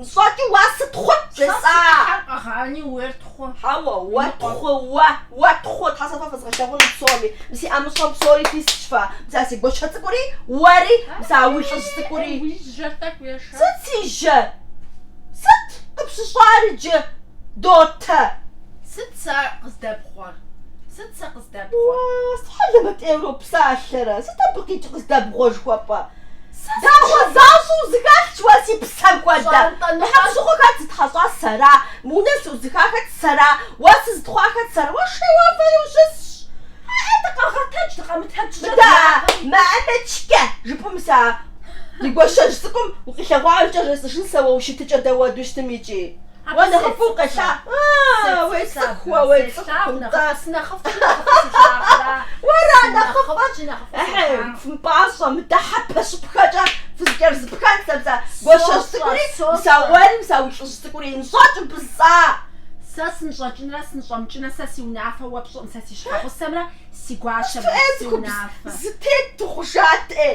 Нщӏэкӏи уа сыт хъут жесӏа? Сэ си ӏыхьэр къэгъани, уейр тхъу. Хьэуэ, уэ тхъу, уэ, уэ тхъу, Тхьэ сэ фэ фэзгъэлъэгъун псоми, мы си ӏэмыщӏэм псори фисщ фэ, мыса си гуащэ цӏыкӏури, уэри, мыса уи лӏыжь цӏыкӏури. Уи жьэр тӏэкӏу ешэ. Сыт си жьэ? Сыт къыпщыщӏар иджы, Дотэ? Сыт сэ къыздэбгъуэр? Сыт сэ къыздэбгъуэр? Уа, сыт хьэлэмэт ӏейуэ уропсалъэрэ? Сыт абы къикӏ къыздэбгъуэ жыхуэпӏэ? Дагъуэ защӏэу узэхэлъщ уэ си псэм хуэдэ? Хьэкъущыкъу хэт зытхьэщӏа сэра? Мы унэ зэӏузыха хэт сэра? Уэс зытхъуа хэт сэра? Уэ шей уефэри ущысщ. Хьээ, дыкъэгъэтэдж, дыкъэмытэдж, жэт Мыдэ, япэм. Мамэчкэ! жыпӏэм сэ а ди гуащэжь цӏыкӏум укъилъэгъуамкӏэ жесӏэжын сэ уэ уи щытыкӏэ дауэду щытым икӏи? Уэ нэхъыфӏу къелъа? А-а-а, уецӏыху уэ, уецӏыху, нтӏэ. Уэра нэхъыфӏыр? Ыхьы, фымпӏащӏэ, мыдэ хьэпэщыпхэкӏэ фызэкӏэрыспхэн сэ бза гуащэжь цӏыкӏури, мыса уэри, мыса уи лӏыжь цӏыкӏури, нщӏэкӏ бза! Сэ сынщӏэкӏынрэ сынщӏэмыкӏынрэ, сэ си унафэ уэ пщӏыӏым, сэ си щхьэгъусэмрэ си гуащэмрэ си унафэ. Зэтет дыхъужат-ӏей!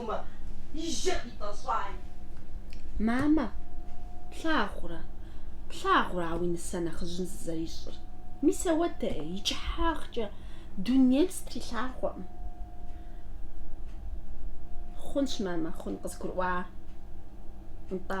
Мамэ, и жьэ къитӏэщӏай. Мамэ, плъагъурэ, плъагъурэ а уи нысэ нэхъыжьым зызэрищӏыр. Мис ауэдэ-е, и кӏыхьагъкӏэ дунейм стрилъагъуэкъым. Хъунщ, мамэ, хъун, къызгурыӏуа, нтӏэ.